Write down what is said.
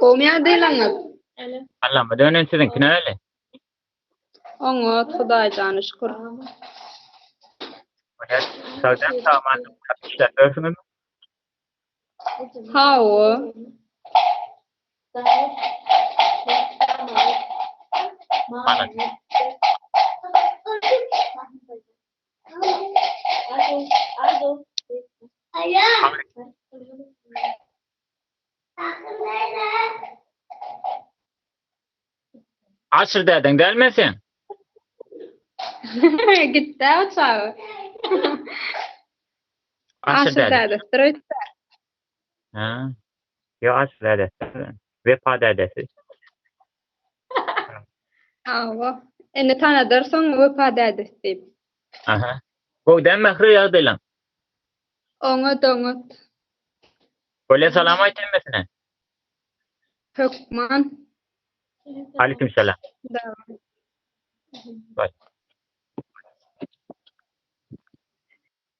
Gowmy ýagdaýlaryňyz? Allama dönen siziňki näle? Oňat Hudaý jana şükür. Hünär, sagdyn saman ýap işläp ýörsiňizmi? Hawa. Malat. Aşyr dädeň däl men sen. Gitdi o çaga. Aşyr däde. Aşyrdädi. Stroýt. Ýok aşyk dädesi bilen. Wepa dädesi. Hawa. Indi tanadarsyň Wepa dädesi diýip. Aha. Gowy däl Mähri ýagdaýlaň? Oňat oňat. Bolýa salam aýt hemmesine. Hökman. Aleýkum salam. Daway.